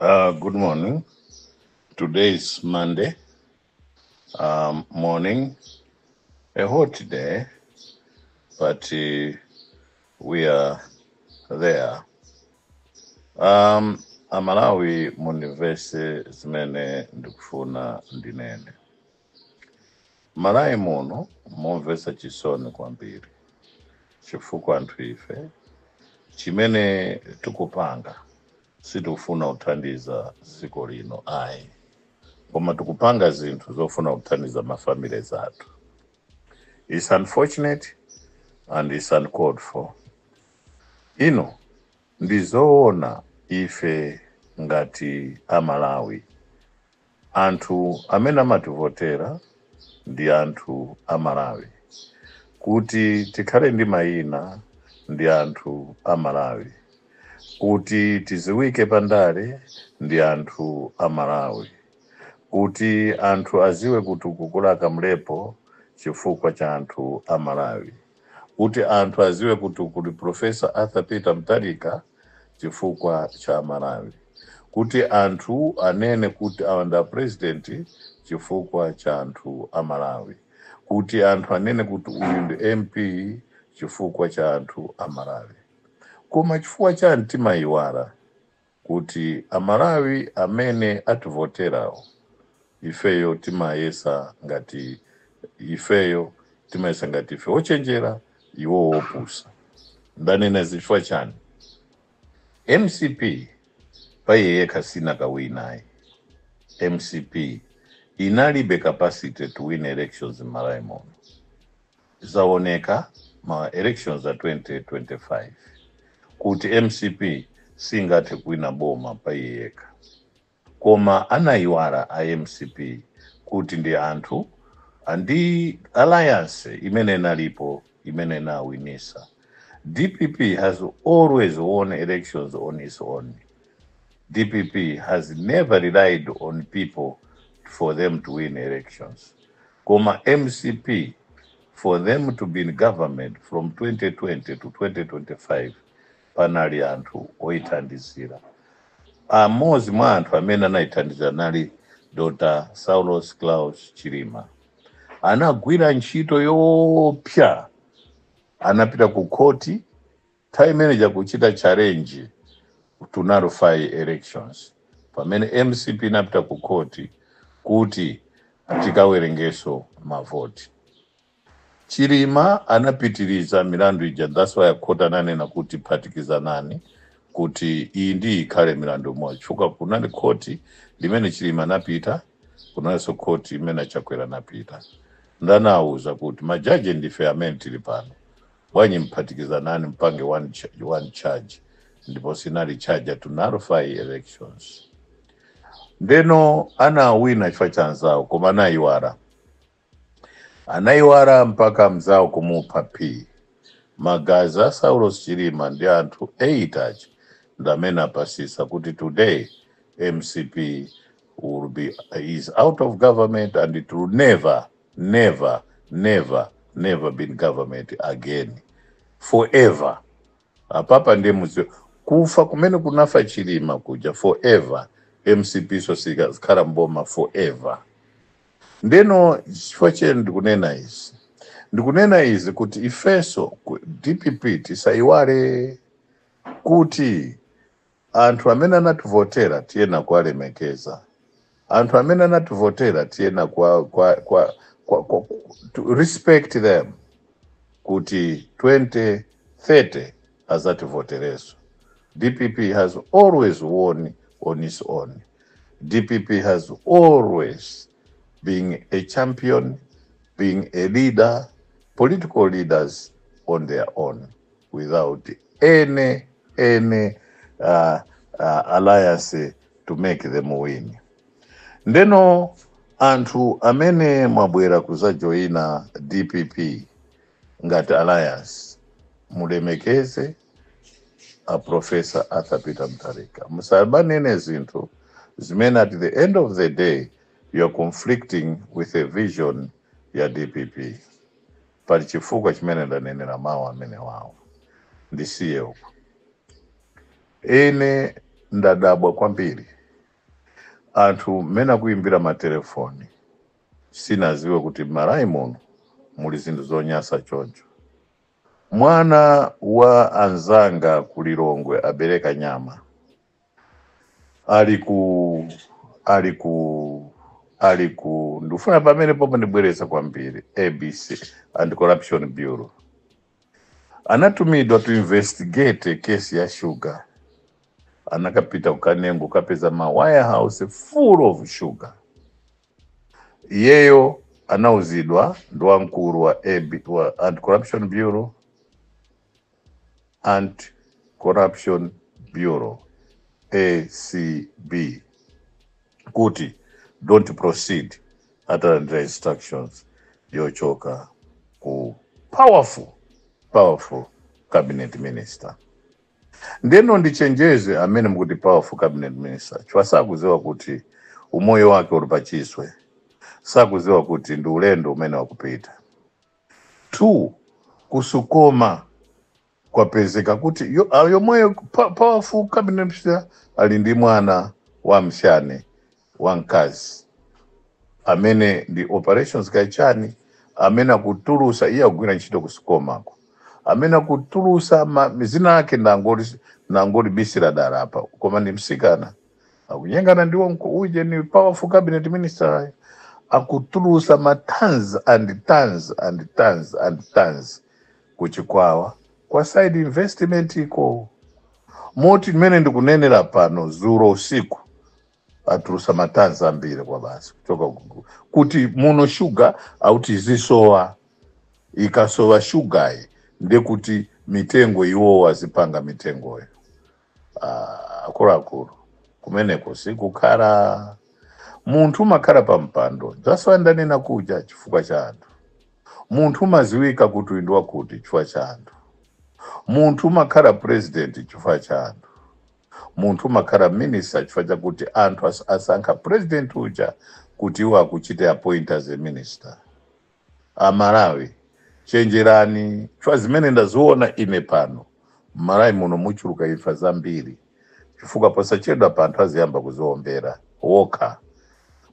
Uh, good morning. Today is Monday um, morning, a hot day, but uh, we are there. Um, Amalawi Munivesi zimene ndikufuna ndinene. M'Malawi muno momvetsa chisoni kwambiri chifukwa anthu ife chimene tikupanga sitikufuna kuthandiza dziko lino ayi, koma tikupanga zinthu zofuna kuthandiza ma families athu. It's unfortunate and it's uncalled for. Ino ndi zoona ife ngati a Malawi Anthu amene amativotera ndi anthu a Malawi. Kuti tikhale ndi mayina ndi anthu a Malawi. Kuti tiziwike pa ndale ndi anthu a Malawi. Kuti anthu aziwe kuti kukhala Kamlepo chifukwa cha anthu a Malawi. kuti anthu aziwe kuti kuli professor Arthur Peter Mutharika chifukwa cha amalawi. Kuti anthu anene kuti awa ndi a president chifukwa cha anthu a Malawi. Kuti anthu anene kuti uyu ndi MP chifukwa cha anthu a Malawi. Koma chifukwa chani timayiwala kuti a Malawi amene ativoterawo ifeyo timayesa ngati ifeyo timayesa ngati ife ochenjera iwo opusa. Ndanena izi chifukwa chani? Mcp paiye yekha sinakawine ayi. Mcp inalibe capacity to win elections m'Malawi muno. Zaoneka ma elections a 2025 kuti mcp singathe kuwina boma paiye yekha koma anayiwala a mcp kuti ndi anthu andi alliance imene inalipo imene inawinisa. Dpp has always won elections on its own. Dpp has never relied on people for them to win elections. koma mcp for them to be in government from 2020 to 2025 panali anthu oyithandizira amodzi mwa anthu amene anayithandizira anali dr saulos klaus chilima anagwira ntchito yoopsa anapita ku khoti Nthawi imeneija kuchita challenge to nullify elections pamene mcp inapita ku court kuti tikawerengeso ma vote. Chilima anapitiliza milandu ija that's why court ananena kuti phatikizanani kuti iyi ndi iyi ikhale mlandu umodzi chifukwa kunali court limene Chilima anapita kunaliso court imene a Chakwera anapita. Nde anawuza kuti ma judge ndife amene tili pano Bwanji mphatikizanani mpange one ch one charge ndipo sinali charger to nullify elections. Ndeno anawina chifukwa cha anzawo koma anayiwala. Anayiwala mpaka mzawo kumupha P. Magazi a Saulos Chilima ndi anthu 8 aja ndamene apasisa kuti today mcp will be, is out of government and it will never never never never be in government again for ever apapa ndiye mudziwe kufa kumene kunafa chilima kuja for ever mcp siizakhalanso mboma for ever ndeno chifukwa chimene ndikunena izi ndikunena izi kuti ifeso dpp tisayiwale kuti Anthu amene anativotera tiyenera kuwalemekeza. Anthu amene anativotera tiyenera kuwa, kwa, kwa, kwa, kwa, to respect them kuti 2030 azativotereso. DPP has always won on its own. DPP has always been a champion, being a leader, political leaders on their own. without any any uh, uh, alliance to make them win ndeno anthu amene mwabwera kuzajoyina dpp ngati alliance mulemekeze a professor arthur peter mutharika musamanene zinthu zimene at the end of the day you are conflicting with the vision ya dpp Pali chifukwa chimene ndanenera mawu amenewawa. Ndisiye uko. Ine ndadabwa kwambiri. Anthu mmene akuimbira matelefoni, sinadziwe kuti m'Malawi muno muli zinthu zonyansa choncho. Mwana wa anzanga ku Lilongwe abereka mnyamata. ali ku ali ku ali ku ndikufuna pamenepopo ndibwereza kwambiri abc anti corruption bureau anatumidwa to investigate kesi ya sugar anakapita ku Kanengo kapeza ma warehouse full of sugar iyeyo anauzidwa ndi wamkulu wa, AB, wa anti corruption bureau Anti Corruption Bureau, acb, kuti don't proceed atalandira instructions yochoka ku powerful powerful cabinet minister ndeno ndichenjeze amene mukuti powerful cabinet minister chifukwa sakudziwa kuti umoyo wake uli pachiswe sakudziwa kuti ndi ulendo umene wakupita 2 ku Sucoma kwapezeka kuti yo, a, yomweyo pa- powerful cabinet minister ali ndi mwana wa mshane wa mkazi amene ndi operations kaichani amene akutulusa iye akugwira ntchito ku Sucomako amene akutulusa ma- zina ake ndangolibisira dala apa koma ndi msikana akunyengana ndiwo nko- uje ni powerful cabinet minister akutulusa ma tons and tons and tons and tons kuchikwawa kwa side investment iko moti mmene ndikunenera pano dzulo usiku atulusa ma tons ambiri kwabasi kuchoka ku- kuti muno shuga auti izisowa ikasowa shugayi ndekuti mitengo iwowo azipanga mitengoyo Ah, akuluakulu kumeneko sikukhala munthu umakhala pa mpando that's why ndanena kuja chifukwa cha anthu munthu umaziwika kuti uyu ndi wakuti chifukwa cha anthu munthu umakhala president chifukwa cha anthu munthu umakhala minister chifukwa chakuti anthu as- asankha president uja kuti iwo akuchite appoint as a minister amalawi chenjerani chifukwa zimene ndaziona ine pano mmalawi muno muchuluka imfa zambiri chifukwa posachedwapa anthu aziyamba kuziombera wokha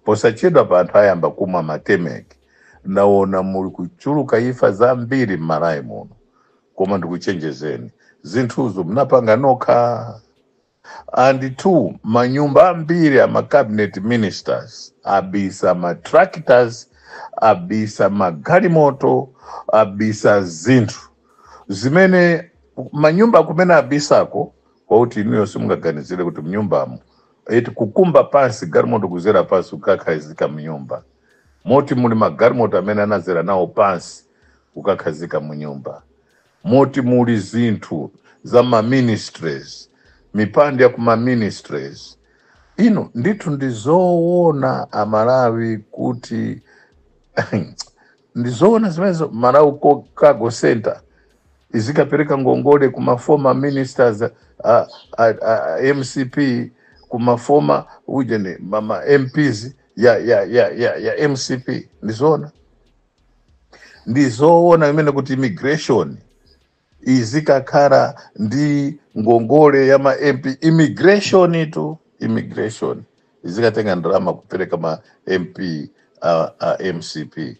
posachedwapa anthu ayamba kumwa matemeki ndaona muli kuchuluka imfa zambiri mmalawi muno koma ndikuchenjezeni zinthuzo munapanga nokha and two manyumba ambiri a macabinet ministers abisa matractors abisa magalimoto abisa zinthu zimene manyumba kumene abisako kwakuti inuyo simungaganizire kuti mnyumbamo eti kukumba pansi galimoto kuzera pansi kukakhazika mnyumba moti muli magalimoto amene anazera nawo pansi kukakhazika mnyumba moti muli zinthu za ma ministries, mipando ya ku ma ministries. Inu ndithu ndi zoona a Malawi kuti ndi zoona zimenezo Malawi ko- Cargo Center izikapereka ngongole ku ma former ministers a, a, a, a MCP ku ma former ujeni mama MPs ya ya ya ya, ya MCP ndi zoona ndizoona imene kuti immigration izikakhala ndi ngongole ya ma mp immigration tu immigration izikatenga ndalama kupereka ma mp a, a mcp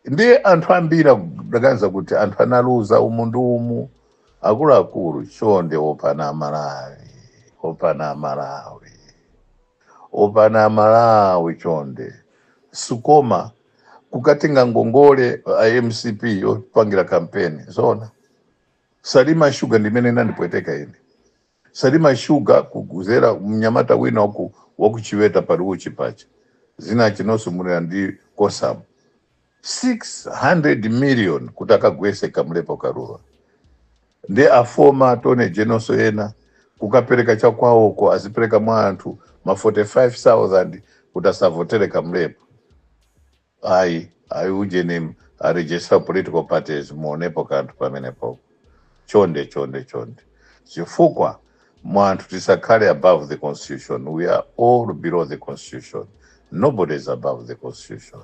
ndiye anthu ambiri akuganiza kuti anthu analuza umu ndi umu akuluakulu chonde opana amalawi opana amalawi opana amalawi chonde sikoma kukatenga ngongole a mcp yopangira kampeni zoona salima shuga ndimene inandipweteka ine salima shuga kuguzera mnyamata wina waku wakuchiweta Paluchi pacha zina chinonso munena ndi kosamba 600 million kuti akagwese kamlepo karura ndi a former attorney generalso yena kukapereka cha kwawoko azipereka mwa anthu ma 45000 kuti asavotere kamlepo ayi ayi ujeni a registrar political parties muonepo kanthu pamenepo chonde chonde chonde chifukwa mwa anthu tisakhale above the constitution we are all below the constitution nobody is above the constitution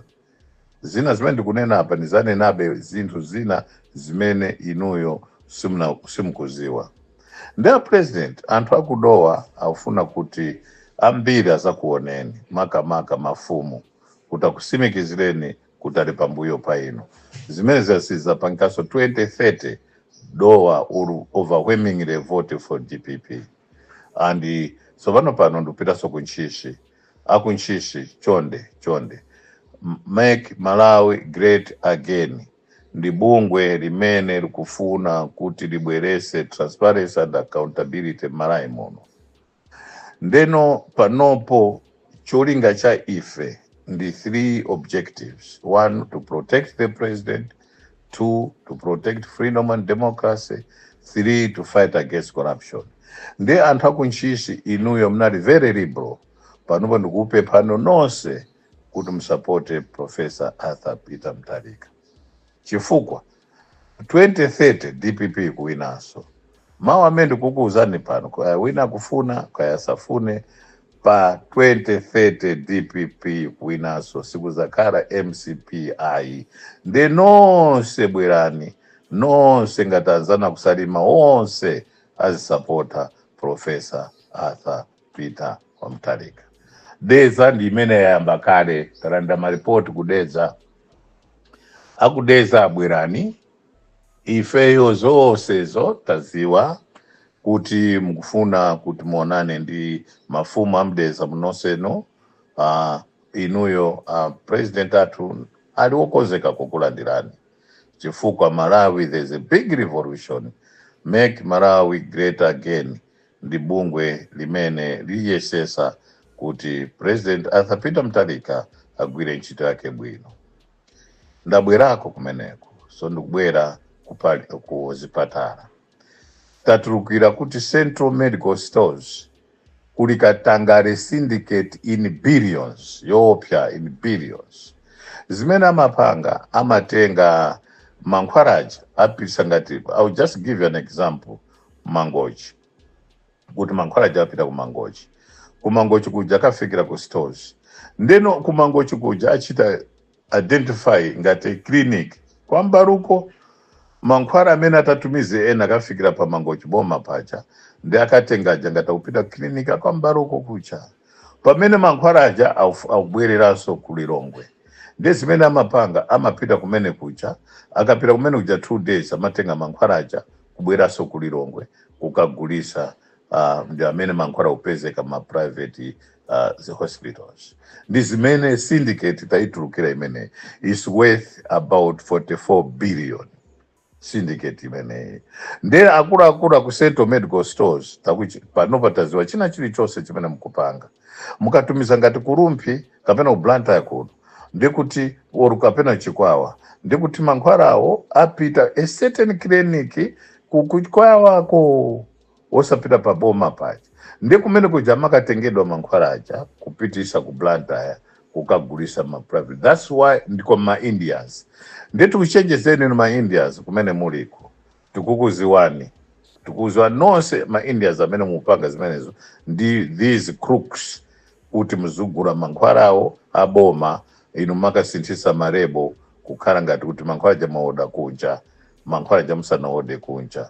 zina zimene ndikunena apa ndizanenabe zinthu zina zimene inuyo simuna- simukuziwa ndi a president anthu akudowa akufuna kuti ambiri azakuoneni makamaka mafumu kuti akusimikizireni kuti ali pambuyo pa inu zimene zasiza panonso 2030 dowa will overwhelmingly vote for dpp and tsopano pano ndikupitanso ku ntchisi aku ntchisi chonde chonde M- make malawi great again ndi bungwe limene likufuna kuti libwerese transparency and accountability m'malawi muno ndeno panopo cholinga cha ife ndi three objectives one to protect the president 2 to protect freedom and democracy 3 to fight against corruption ndi anthu akuntchisi inuyo mnali very liberal panopo ndikupemphano nonse kuti musapote professor arthur peter mutharika chifukwa 2030 dpp kuwinanso mawu amene ndikukuwuzani pano kaya wina akufuna kaya asafune Pa 2030 dpp kuwinaso sikuzakhala mcp ayi nde nonse bwerani nonse ngati anzanu akusalima onse azisapota professor Arthur Peter wa Mutharika Dedza ndi imene yayamba kale talandira ma report ku Dedza aku Dedza abwerani ifeyo zonsezo taziwa kuti mukufuna kuti muonane ndi mafumu a m'dedza munonsenu uh, inuyo uh, president athu ali wokonzeka kukulandirani chifukwa malawi there's a big revolution make malawi great again ndi bungwe limene liyesesa kuti president arthur peter mutharika agwire ntchito yake bwino ndabwerako kumeneko so ndikubwera kupali- ku zipatala tatulukira kuti Central Medical Stores kuli katangale syndicate in billions yoopsya in billions zimene amapanga amatenga mankhwala aja apitisa ngati I'll just give you an example mangochi kuti mankhwala aja apita ku mangochi ku mangochi kuja akafikira ku stores nde then ku mangochi kuja achita identify ngati clinic kwa mbaruko mankhwala amene atatumize ena akafikira pa mangochi boma paja nde akatenga aja ngati akupita clinic kwa mbaruko kuja pamene mankhwala aja auf- akubwereranso ku lilongwe ndi zimene amapanga amapita kumene kuja akapita kumene kuja two days amatenga mankhwala aja kubwereranso ku lilongwe kukagulisa uh, ndi amene mankhwala akupezeka ma private uh, the hospitals ndi zimene syndicate tayitulukira imene is worth about 44 billion syndicate imeneyi ndi akuluakulu aku central medical stores takuchi panopa taziwa china chilichonse chimene mukupanga mukatumiza ngati ku rumphi kapena ku blantyre kuno ndikuti or kapena chikwawa ndikuti mankhwalawo apita a certain clinic ku- kuchikwawako osapita pa boma paja ndi kumene kuja amakatengedwa mankhwala aja kupitisa ku blantyre kukagulisa ma private thats why ndi ma indians nde tikuchenjezeni inu ma indians kumene muliko tikukuziwani tikuziwa nonse ma indians amene mupanga zimenezo ndi these crooks kuti muzigula mankhwala awo aboma inu mmakasinthisa ma label kukhala ngati kuti mankhwala aja mwaoda kunja mankhwala aja musanaode kunja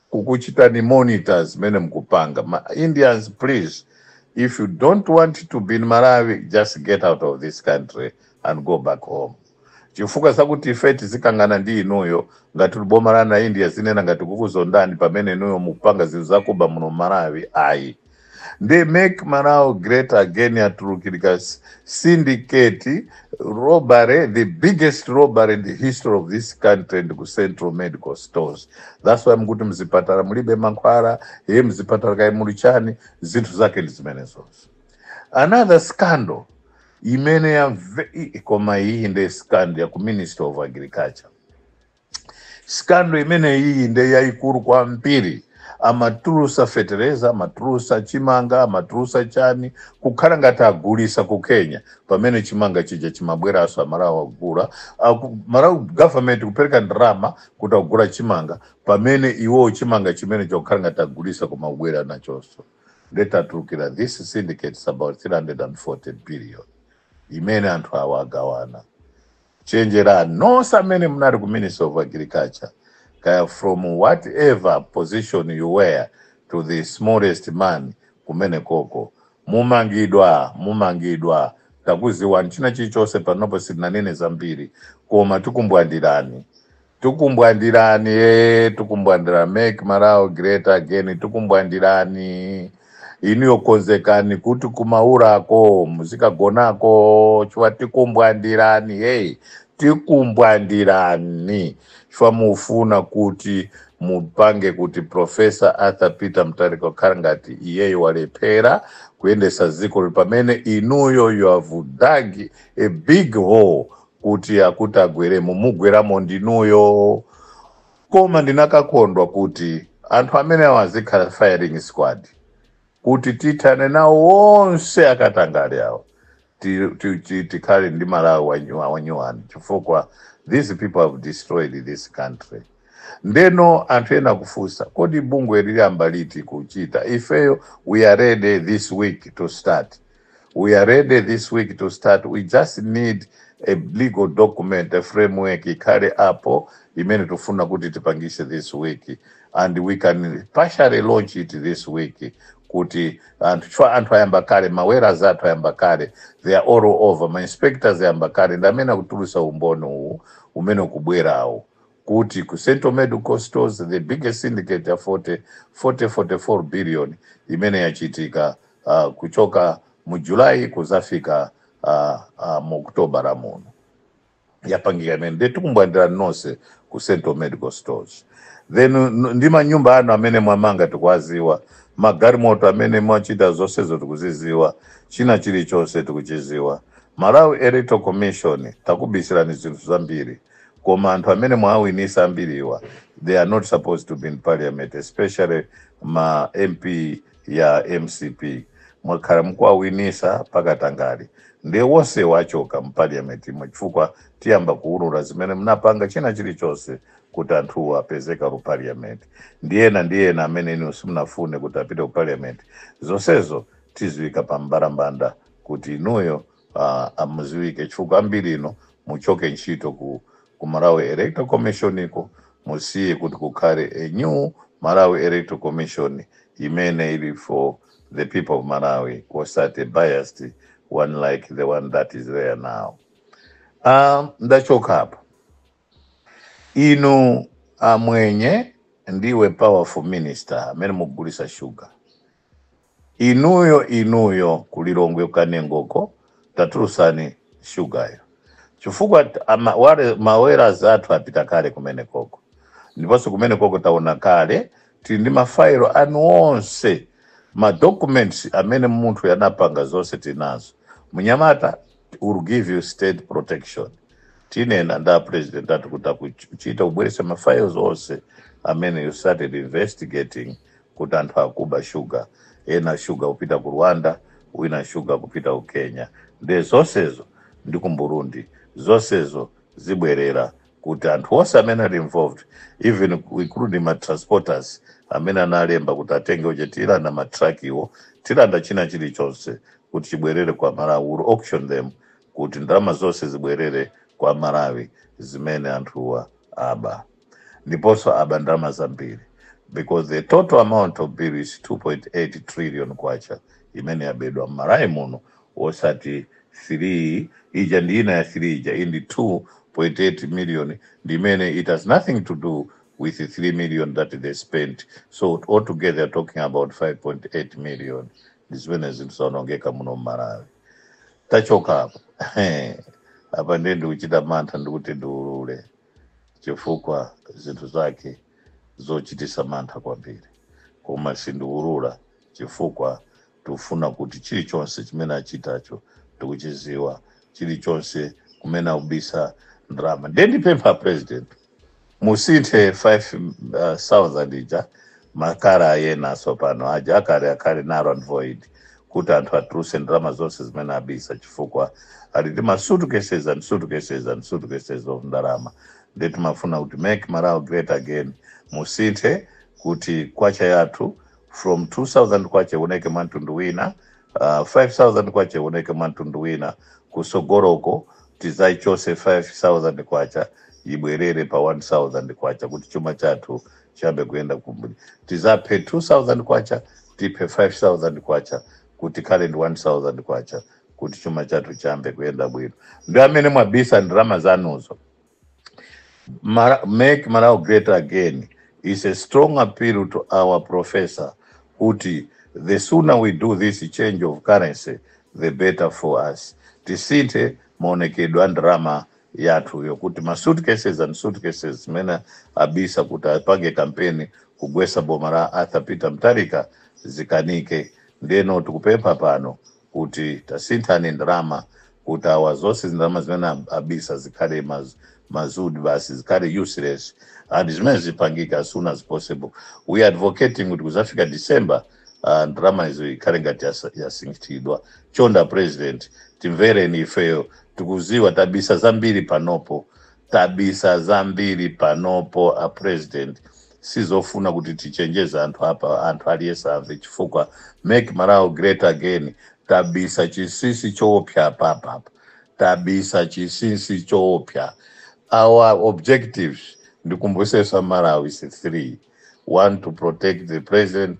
kukuchitani monitor zimene mukupanga ma indians please if you don't want to be in malawi just get out of this country and go back home chifukwa zakuti ife tizikangana ndi inuyo ngati uli boma la na india zinena ngati kukuzondani pamene inuyo mukupanga zinthu zakuba muno m'malawi ayi nde make malawi great again yatulukira s- syndicate robbery the biggest robbery in the history of this country ndi ku central medical stores that's why mkuti mzipatala mulibe mankhwala iye mzipatala kaya muli chani zinthu zake ndi zimenezozo another scandal imene ya ve- i- koma iyi nde scandal ya ku ministry of agriculture scandal imeneyiyi nde yayikulu kwambiri amatulusa fetereza amatulusa chimanga amatulusa chani kukhala ngati agulisa ku kenya pamene chimanga chija chimabweraso amalawi agula malawi government kupereka ndalama kuti agula chimanga pamene iwowo chimanga chimene chokhala ngati agulisa kumabwera nachoso nde tatulukira this syndicate is about 340 billion imene anthu awa agawana chenjerani nonse amene munali ku ministry of agriculture kaya from whatever position you were to the smallest man kumenekoko mumangidwa mumangidwa takuziwani china chilichonse panopo sitinanene zambiri koma tikumbwandirani tukumbwandirani ee tukumbwandira make Malawi great again tukumbwandirani inuyo konzekani kuti ku Maulako muzikagonako chifukwa tikumbwandirani hey tikumbwandirani chifukwa mufuna kuti mupange kuti professor arthur peter mutharika kukhala ngati iyeyo walephera kuyendesa dziko lino pamene inuyo you have dug a big hole kuti akuti agweremo mugweramo ndinuyo koma ndinakakondwa kuti anthu amenewa azikhala firing squad kuti tithane nawo onse akatangale awo ti- ti- ti- tikhale ndi malawi wanyu- wanyuwani chifukwa these people have destroyed this country ndeno anthu ena kufunsa kodi bungwe liyamba liti kuchita ifeyo we are ready this week to start We are ready this week to start. We just need a legal document, a framework ikhale apo imene tufuna kuti tipangise this week and we can partially launch it this week kuti anthu chwa anthu ayamba kale ma lawyers athu ayamba kale they are all over ma inspectors ayamba kale ndi amene akutulusa umboni uwu umene ukubwerawo kuti ku Central Medical Stores the biggest syndicate ya 40 40 44 billion imene yachitika uh, kuchoka mu July kuzafika uh, uh, mu Okutobara muno yapangika imene nde tikumbwandirani nonse ku Central Medical Stores then n- ndi manyumba anu amene mwamanga tikuwaziwa magalimoto amene mwachita zonsezo tikuziziwa china chilichonse tikuchiziwa Malawi Electoral Commission takubisirani zinthu zambiri koma anthu amene mwawinisa ambiriwa they are not supposed to be in parliament especially ma mp a mcp mwakhala mukuwawinitsa pakatangali ndiye wonse wachoka mu parliament imwe chifukwa tiyamba kuulula zimene mnapanga china chilichonse kuti anthuwo apezeka ku parliament ndi ena ndi ena amene inu simunafune kuti apite ku parliament zonsezo tiziwika pa mbalambanda kuti inuyo uh, amuziwike chifukwa ambiri inu muchoke ntchito ku, ku Malawi Electoral Commission iko musiye kuti kukhale a new Malawi Electoral Commission imene ili for the people of Malawi osati biased one like the one that is there now. Um, ndikachoka hapo inu amwenye ndi iwe powerful minister amene mukugulisa shuga inuyo inuyo kulilongwe kanengoko tatulusani shugayo chifukwa ma lawyers athu apita kale kumene koko ndiponso kumene koko taona kale tili ndi mafailo anu onse madocuments amene munthu anapanga zonse tinazo mnyamata will give you state protection tinena nda president athu kuti akuchita ubwerese ma files onse amene you started investigating kuti anthu akuba shuga ena shuga kupita ku rwanda wina shuga kupita ku kenya nde zonsezo ndi ku burundi zonsezo zibwerera kuti anthu onse amene ali involved even ku- including ma transporters amene analembedwa kuti atenge uje tilanda ma truck awo tilanda china chilichonse kuti chibwerere kwa malawi will auction them kuti ndalama zonse zibwerere kwa malawi zimene anthuwa aba ndiponso aba ndalama zambiri because the total amount of the bill is 2.8 trillion kwacha imene yabedwa mmalawi muno wosati 3 ija ndi ina ya 3 ija iyi ndi 2.8 million ndi imene it has nothing to do with 3 million that they spent so altogether talking about 5.8 million ndi zimene zinthu zaonongeka muno mmalawi tachoka apo apa ndiye ndikuchita mantha ndikuti ndiulule chifukwa zinthu zake zochitisa mantha kwambiri koma sindiulula chifukwa Tikufuna kuti chilichonse chimene achitacho tikuchiziwa, chilichonse kumene akubisa ndalama. Ndiye ndipempha a president musinthe 5000 ija makhala ena atsopano aja akale akhale null and void kuti anthu atuluse ndalama zonse zimene abisa chifukwa ali ndi ma suitcases and suitcases and suitcases of ndalama. Ndiye timafuna kuti make Malawi great again musinthe kuti kwacha yathu from 2000 kwacha ioneke mwantundu wina 5000 kwacha ioneke mwantundu wina kusogoroko tizaichose 5000 kwacha ibwerere pa 1000 kwacha kuti chuma chathu chiyambe kuyenda kumbuli tizaphe 2000 kwacha tiphe 5000 kwacha kuti tikhale ndi 1000 kwacha kuti chuma chathu chiyambe kuyenda bwino ndi amene mwabisa ndalama zanuzo make Malawi great again is a strong appeal to our professor kuti the sooner we do this change of currency the better for us tisinthe maonekedwe a ndalama yathu yakuti ma suitcases and suitcases zimene abisa kuti apange kampeni kugwesa boma la arthur peter mutharika zikanike ndeno tikupempha pano kuti tasinthani ndalama kuti awa zonse ndalama zimene ab- abisa zikhale maz, mazudi basi zikhale useless and zimene zipangike as soon as possible we are advocating kuti kuzafika december uh, ndalama izo ikhale ngati yasa- yasinthidwa chonde a president timvereni ifeyo tikuziwa tabisa zambiri panopo tabisa zambiri panopo a president sizofuna kuti tichenjeze anthu apa anthu aliyese amve chifukwa make malawi great again tabisa chinsinsi choopsa apapa apa tabisa chinsinsi choopsa our objectives ndikumbusesa malawi ndi 3 one to protect the president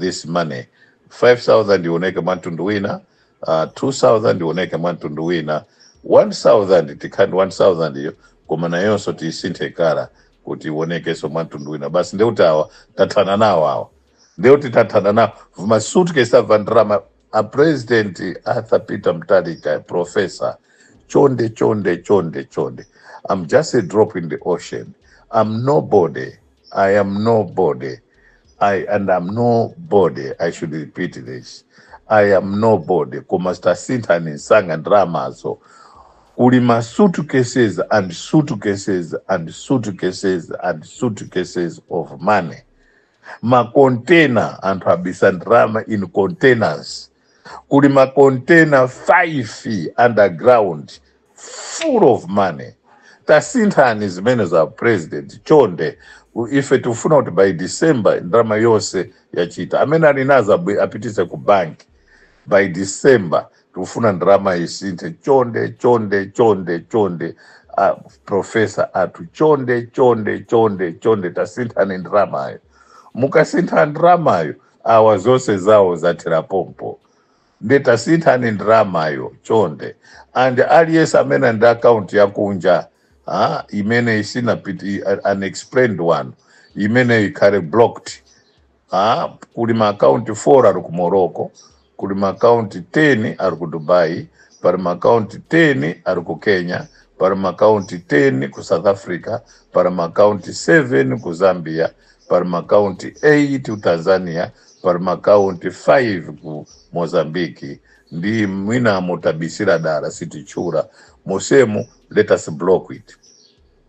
this money 5000 ioneke mwa mtundu wina uh, 2000 ioneke mwa mtundu wina 1000 tikhale ndi 1000 iyo koma nayonso tiyisinthe kala kuti ionekenso mwa mtundu wina basi ndeuti awa tathana nawo awa ndeuti tathana nawo vimasuitcase a ndalama a president arthur peter mtalika professor chonde chonde chonde chonde i'm just a drop in the ocean i'm nobody i am nobody i and i'm nobody i should repeat this i am nobody koma sitasinthani nsanga ndramazo kuli ma suitcases and suitcases and suitcases and suitcases of money makontena anthu abisa ndalama in containers kuli makontena 5 feet underground full of money tasinthani zimenezo a president chonde U- ife tikufuna kuti by december ndalama yonse yachita amene ali nazo abwe- apitise ku banki by december tikufuna ndalama isinthe chonde chonde chonde chonde a profesa athu chonde chonde chonde chonde tasinthani ndalamayo mukasintha ndalamayo awa zonse zawo zathera pompo nde tasinthani ndalamayo chonde and aliyense amene ali ndi akaunti yakunja ah, imene isinapiti unexplained one imeneyo ikhale blocked Ah, kuli maakaunti 4 ali ku Morocco, kuli maakaunti 10 ali ku Dubai, pali maakaunti 10 ali ku Kenya, pali maakaunti 10 ku South Africa, pali maakaunti 7 ku Zambia, pali maakaunti 8 ku Tanzania, pali maakaunti 5 ku Mozambique. Ndi mwina motabisira dala sititchula monsemu let us block it.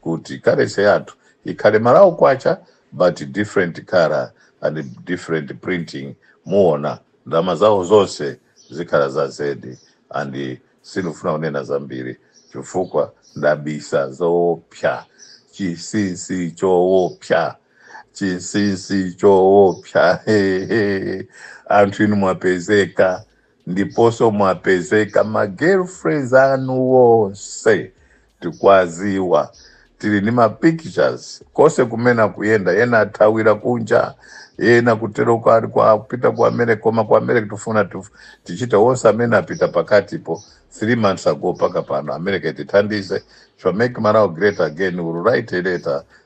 kuti currency yathu ikhale malawi kwacha but different colour and different printing muona ndrama zawo zonse zikhala za zedi and sindifuna kunena zambiri chifukwa ndabisa zoopsa chinsinsi choopsa chinsinsi choopsa hehe anthu inu mwapezeka ndiponso mwapezeka ma girlfriends anu wonse tikwaziwa tili ni ma pictures kose kumene akuyenda ena athawira kunja ena kutero kwa kwa- kupita ku america koma ku america tifuna tichite wonse amene apita pakatipo three months ago paka pano america itithandize to make malawi great again will write a letter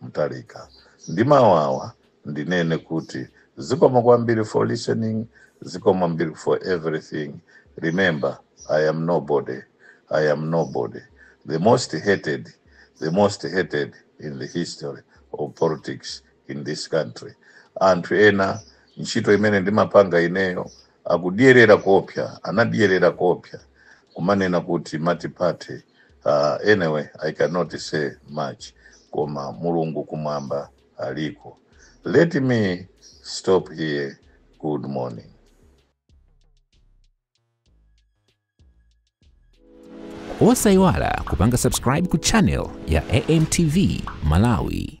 Mutharika. Ndi mawu awa ndinene kuti zikomo kwambiri for listening, zikomo ambiri for everything. Remember, I am nobody, I am nobody. The most hated, the most hated in the history of politics in this country. Anthu ena ntchito imene ndimapanga ineyo akudyerera koopsya anadyerera koopsya kumanena kuti multiparty anyway i cannot say much koma mulungu kumwamba aliko let me stop here good morning osayiwala kupanga subscribe ku channel ya amtv malawi